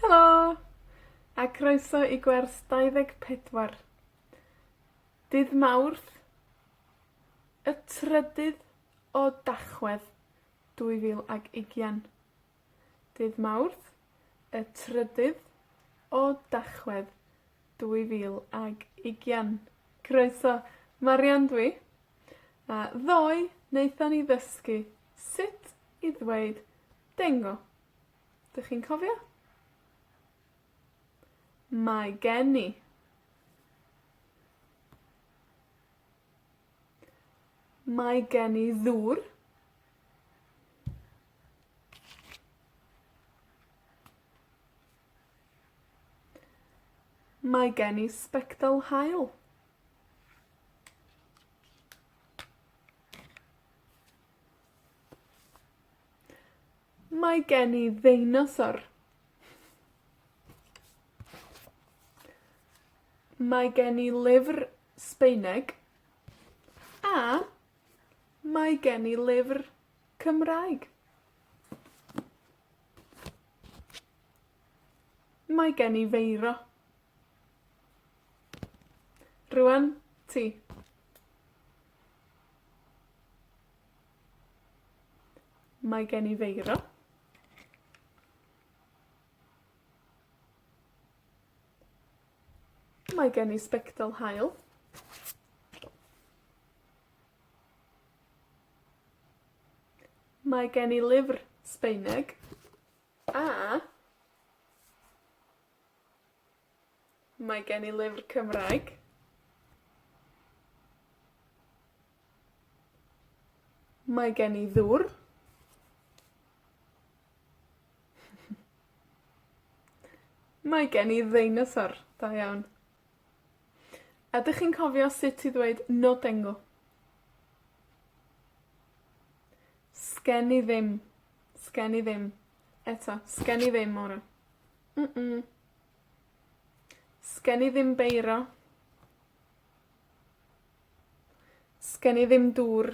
Helo! A croeso i gwers dau ddeg pedwar. Dydd Mawrth, y trydydd o Dachwedd, dwy fil ag ugian. Dydd Mawrth, y trydydd o Dachwedd, dwy fil ag ugian. Croeso. Marian dw i, a ddoe naethon ni ddysgu sut i ddweud Dengo. 'Dych chi'n cofio? Mae gen i. Mae gen i ddŵr. Mae gen i sbectol haul. Mae gen i ddeinosor. Mae gen i lyfr Sbaeneg, a Mae gen i lyfr Cymraeg. Mae gen i feiro. Rŵan, ti. Mae gen i feiro. Mae gen i sbectol haul. Mae gen i lyfr Sbaeneg, a, mae gen i lyfr Cymraeg. Mae gen i ddwr. Mae gen i ddeinosor. Da iawn. Ydych chi'n cofio sut i ddweud Nodengl? Sgen i ddim. Sgen i ddim. Eto, sgen i ddim ora. Mm mm. Sgen i ddim beiro. Sgen i ddim dŵr.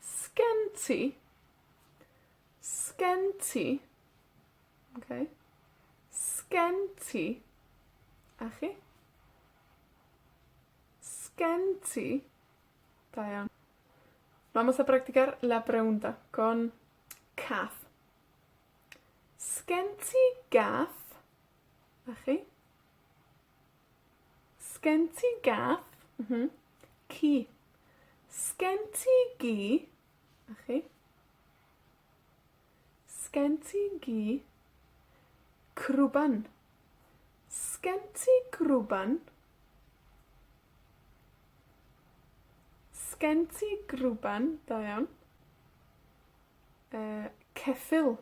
'Sgen ti? 'Sgen ti? Oce? 'Sgen ti? A chi? 'Sgen ti? Da iawn. Vamos a practicar la pregunta con cath. 'Sgen ti gath? A chi? 'Sgen ti gath? M-hm. Ci. 'Sgen ti gi? 'Na chi. 'Sgen ti gi? Crwban. 'Sgen ti grwban? 'Sgen ti grwban? Da iawn. Yy, ceffyl.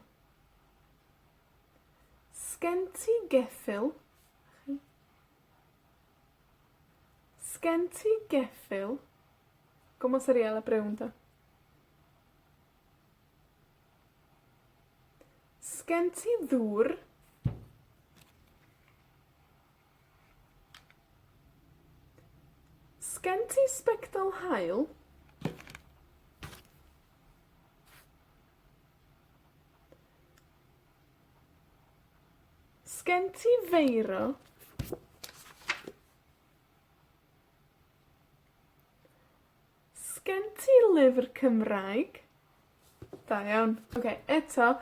'Sgen ti geffyl? 'Sgen ti geffyl? Go mor serial a brown 'de? 'Sgen ti ddŵr? Sgen ti sbectol haul? 'Sgen ti feiro? Sgen ti lyfr Cymraeg? Da iawn. Oce, eto,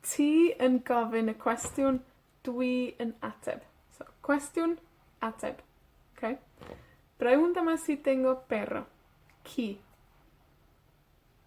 ti yn gofyn y cwestiwn, dwi yn ateb. So, cwestiwn, ateb. Oce? Rownd a mas i dengio bero. Ci.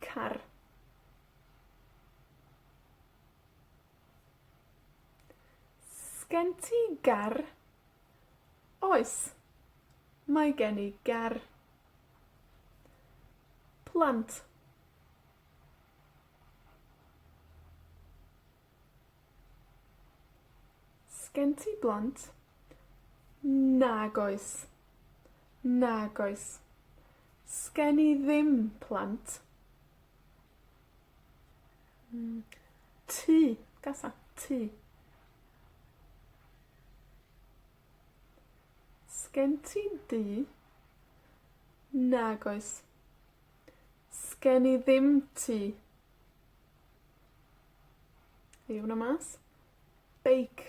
Car. Sgen ti gar? Oes, mae gen i gar. Plant. Sgen ti blant? Nag oes. Nag oes. 'Sgen i ddim plant. Hmm, tŷ, gasa, tŷ. 'Sgen ti dŷ? Nag oes. 'Sgen i ddim tŷ. Ewn â mas. Beic.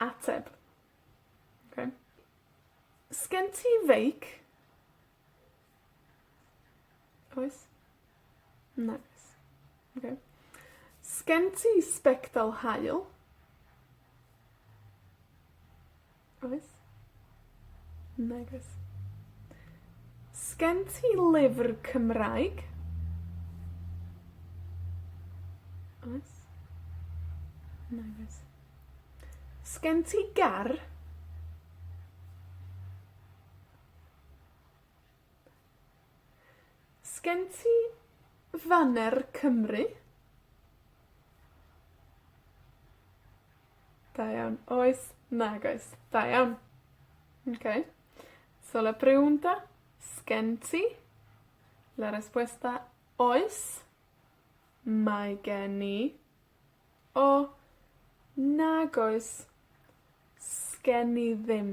Ateb. Oce. 'Sgen ti feic? Oes. Nagos. Oce. 'Sgen ti sbectol haul? Oes? Nag oes. 'Sgen ti lyfr Cymraeg? Oes. Nag oes. 'Sgen ti gar? 'Sgen ti faner Cymru? Da iawn. Oes. Nag oes. Da iawn. Oce. So la pregunta, 'sgen ti? La respuesta, oes, mae gen i, o, nag oes, 'sgen i ddim.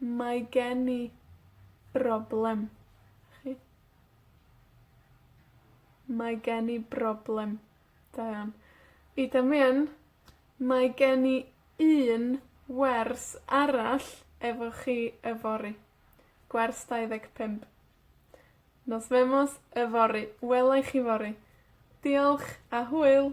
Mae gen i broblem. Mae gen i broblem. Da iawn. I Damien, mae gen i un wers arall efo chi yfory. Gwers dau ddeg pump. Nos Femos yfory. Wela i chi fory. Diolch, a hwyl!